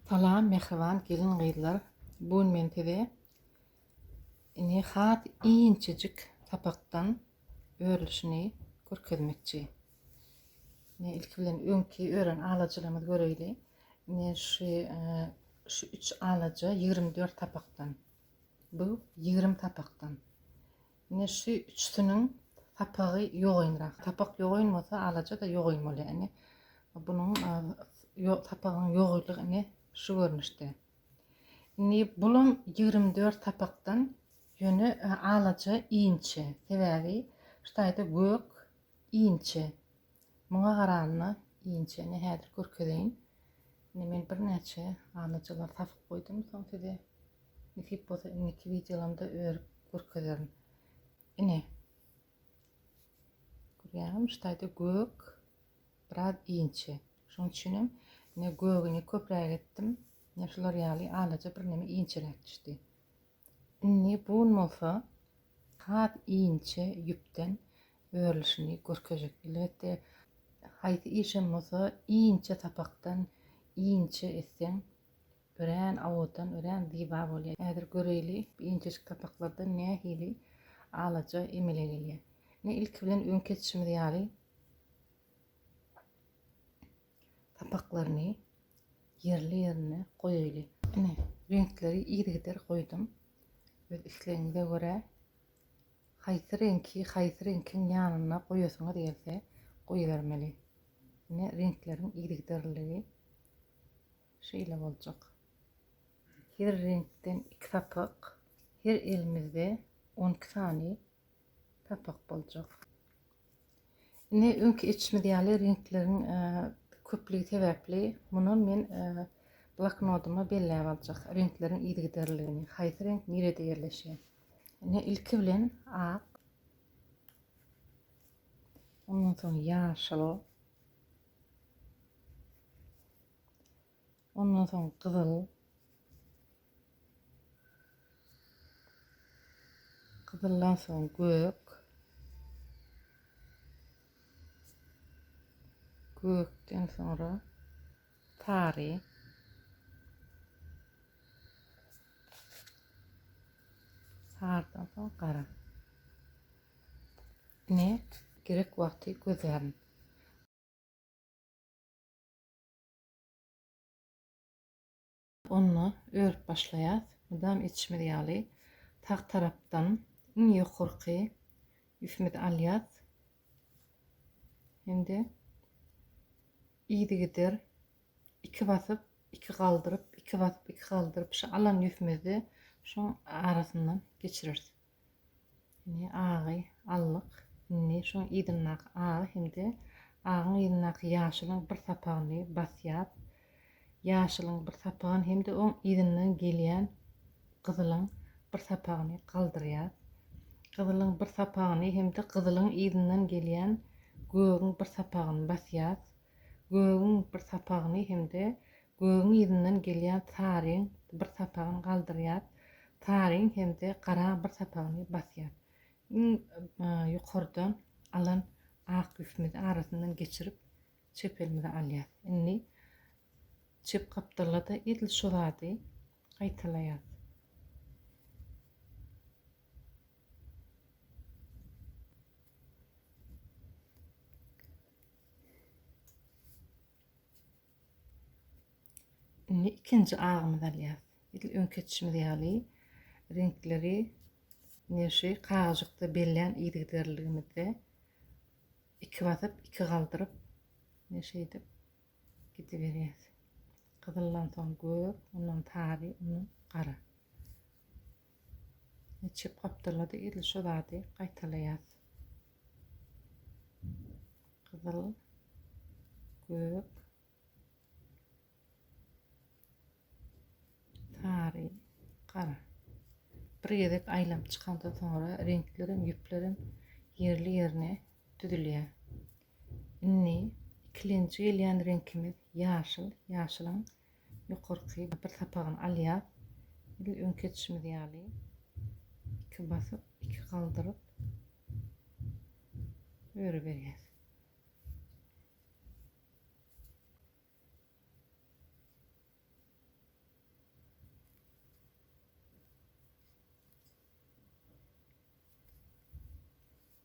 Salam mähriban gelin gyzlar bugun men size ini has inçejik sapakdan örülişini görkezmekçi. Ne ilki bilen öňki ören alajylarymyzy göreýli. Ne şu şu 3 alaja 24 sapakdan. Bu 20 sapakdan. Ine şu üçüsiniň sapagy ýogaýynrak. Sapak ýogaýyn bolsa alaja-da ýogaýyn bolýar. Ine bunuň sapagyň ýogaýylygy ine şu görnüşde. Indi bulam ýigrimi dört sapakdan ýöne alaja inçe. Sebäbi şu taýda gök Inçe. Muňa garanda inçe. Ine häzir görkezeýin. Ine men birnäçe alyjylar tapyp goýdum. Soň size nesip bolsa indiki wideolarymda örüp görkezerin. Ine. Görýäňizmi şu taýda gök biraz inçe. Şonuň üçin hem ine gögüni köpräk etdim. Ine şular ýaly alyja birneme inçeräk düşdi. Indi bun bolsa has inçe ýüpden örülişini görkezjek. Elbetde haýsy işem bolsa inçe sapakdan inçe etseň örän owadan, örän ziba bolýar. Häzir göreýli bu inçejik sapaklardan nähili alaja emele gelýär. Ine ilki bilen öňki etişimiz ýaly. sapaklaryny ýerli ýerine goýaýly. Ine reňkleri yzygider goýdum. Öz islegiňize görä haýsy reňki haýsy reňkiň ýanyna goýasyňyz gelse goýbermeli. Ine reňkleriň yzygiderligi şeýle boljak. Her reňkden iki sapak, her elimizde on iki sany Papak boljak. Indi öňki etişimiz ýaly reňkleriň e, köplügi sebäpli muny men e, bloknodyma belläp aljak reňkleriň yzygiderligini, haýsy reňk nirede ýerleşýär. Indi ilki bilen ak, ondan soň ýaşyl, Ondan soň gyzyl. Gyzyldan soň gök. Gökden soňra sary. Sarydan soň gara. Ne? Gerek wagty gözlärin. Onda örüp başlaýas. Mydam etişimiz ýaly sag tarapdan iň ýokarky ýüpimizi alýas. Indi yzygider iki basyp, iki galdyryp, iki basyp, iki galdyryp şu alan ýüpimizi şuň arasyndan geçireris. Ine agy aldyk. Indi şu yzyndaky agy hem-de agyň yzyndaky ýaşylyň bir sapagyny basýas. Ýaşylyň bir sapagyn hem-de oň yzyndan gelýän gyzylyň bir sapagyny galdyrýas. Gyzylyň bir sapagyny hem-de gyzylyň yzyndan gelýän gögüň bir sapagyny basýas. Gögüň bir sapagyny hem-de Gögüň yzyndan gelýän saryň bir sapagyny galdyrýar, saryň hem-de garaň bir sapagyny basýar. Iň ýokardan alan ak ýüpimizi arasyndan geçirip, çep elimize alýas. Indi çep gapdalda-da edil şu zady gaýtalaýas. Indi ikinji agymyzy alýas. Edil öňki etişimiz ýaly reňkleri ine şu kagyzjykda bellän yzygiderliligimizde iki basyp, iki galdyryp ine şeýdip gidiberýäs. Gyzyldan soň gök, ondan sary, ondan gara. Niçik gapdalady edil şu zady gaýtalaýas. Gyzyl, gök, sary, gara. Bir gezek aýlap çykandan soňra reňkler hem ýüpler hem ýerli ýerine düzülýär. Indi ikilenji gelýän reňkimiz ýaşyl. Ýaşylyň Ýokarky bir sapagyny alýar. Edil öňki edişimiz ýaly iki basyp, iki galdyryp öreberýäs.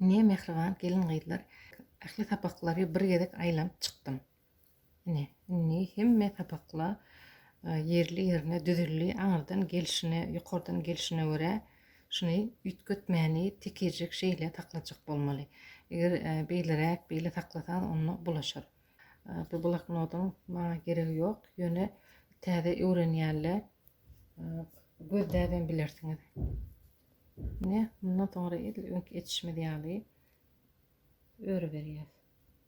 Ine, mähriban gelin-gyzlar, ähli sapaklary bir gezek aýlanyp çykdym. Ine, indi hemme sapaklar ýerli-ýerine düzüldi. Aňyrdan gelşine, ýokardan gelşine görä şuny üýtgetmäni tekirjik şeýle saklajak bolmaly. Eger beýleräk beýle saklasaňyz onda bulaşar. Bu bloknodyň maňa geregi ýok, ýöne täze öwrenýänler gözläbem bilersiňiz. Ine, mundan soňra edil öňki etişimiz ýaly öri berýäs.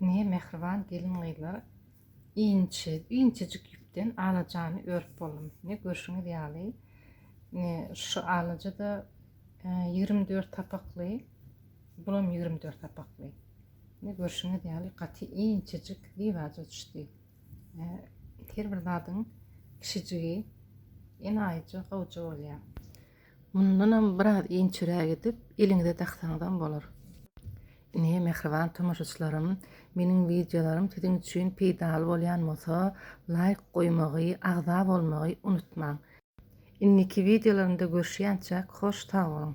Ine, mähriban gelin-gyzlar, inçe, inçejik ýüpden alajany örüp boldum. Ine, görşüňiz ýaly, ine, şu alaja-da e, ýigrimi dört sapakly, bulam ýigrimi dört sapakly. Indi görşüňiz ýaly gaty inçejik diwaja düşdi. Her bir zadyň kişijigi enaýyja gowja bolýar. Mundanam biraz inçeräk edip eliňize daksaňyzam bolar. Ine mähriban tomaşaçylarym, meniň wideolarym siziň üçin peýdaly bolýan bolsa, laýk goýmagy, agza bolmagy unutmaň. Indiki wideolarymda görüşýänçäk hoş sag boluň.